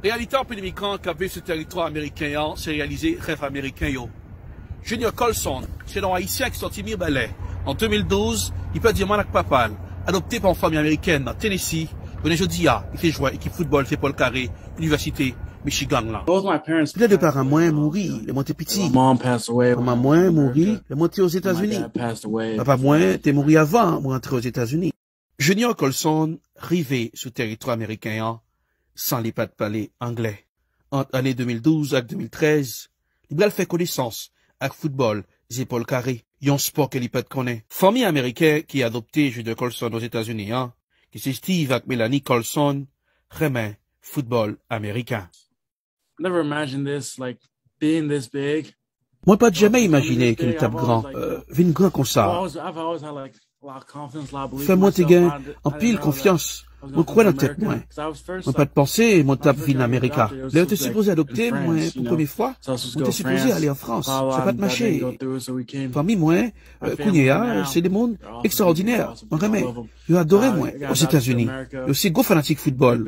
Reyalite anpil imigran k ap viv sou tèritwa ameriken an se reyalize rèv ameriken yo. Junior Colson se yon Ayisyen ki sòti Mirebalais. An 2012, li pèdi manman l ak papa l. Adopte pa yon fanmi amerikèn nan Tennessee, jounen jodi a li se jwè ekip foutbòl se Paul Carré Inivèsite Michigan lan. Lè de paran mwen mouri lè mwen te piti. Manman mwen mouri lè mwen te Ozetazini. Papa mwen te mouri avan mwen antre Ozetazini. Junior Colson rive sou teritwa meriken an san li pa t pale anglè. Ant ane 2012 ak 2013, li pral fè konesans ak foutbòl zepòl kare, yon spò ke li pa t konnen. Fanmi ameriken ki adopte Junior Colson Ozetazini an, ki se Steve ak Melanie Colson, renmen foutbòl ameriken. Mwen pat jamè imajine ke m tap gran, vin gran konsa. Fè mwen te gen anpil konfyans, mwen kwè nan tèt mwen. Mwen pat panse mwen tap vin Amerika. Lè yo te sipoze adopte mwen pou premye fwa, mwen te sipoze ale an Frans. Sa pat mache. Fanmi mwen kounye a se de moun ekstraòdinè, mwen renmen yo adore mwen. Ozetazini, yo se gwo fanatik foutbòl.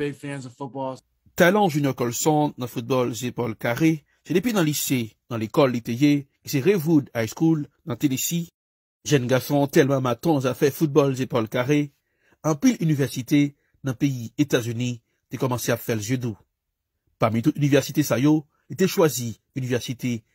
Talan Junior Colson nan foutbòl zepòl kare, se depi nan lise, nan lekòl li te ye, ki se Rewood High School nan Tenesi. Jèn gason an tèlman maton zafè foutbòl zepòl kare, anpil inivèsite nan peyi Etazini te kòmanse ap fè l je dou. Pami tout inivèsite sa yo, li te chwazi inivèsite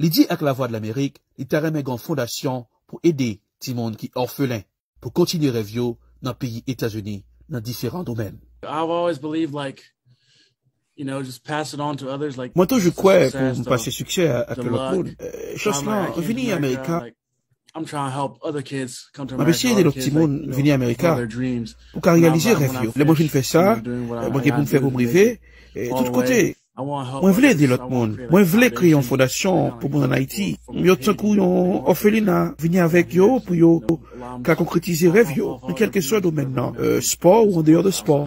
Li di ak Lavwadlamerik li ta renmen gen yon fondasyon pou ede timoun ki òfelen pou kontinye rèv yo nan peyi Etazini nan diferan domèn. Mwen toujou kwè pou m pase siksè a ak yon lòt moun, chans lan vini amerika. Map eseye ede lòt timoun vini Amerika pou ka reyalize rèv yo. Lè mwen fin fè sa mwen gen pou m fè pou m rive tout kote. Mwen vle ede lòt moun. Mwen vle kreye yon fondasyon pou moun an Ayiti. Yo tankou yon òfelina. Vini avèk yo pou yo ka konkretize rèv yo nan kèlkeswa domèn nan, spò ou andeyò de spò.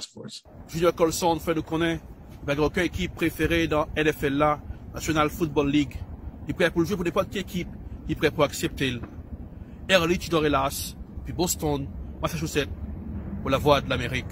Junior Colson fè nou konnen bagay oken ekip prefere nan NFL la, National Football League. Li prè pou l jwe pou nenpòt ki ekip ki prè pou aksepte l. Erlich Dorrelas, depi Boston, Massachusetts, pou Lavwadlamerik.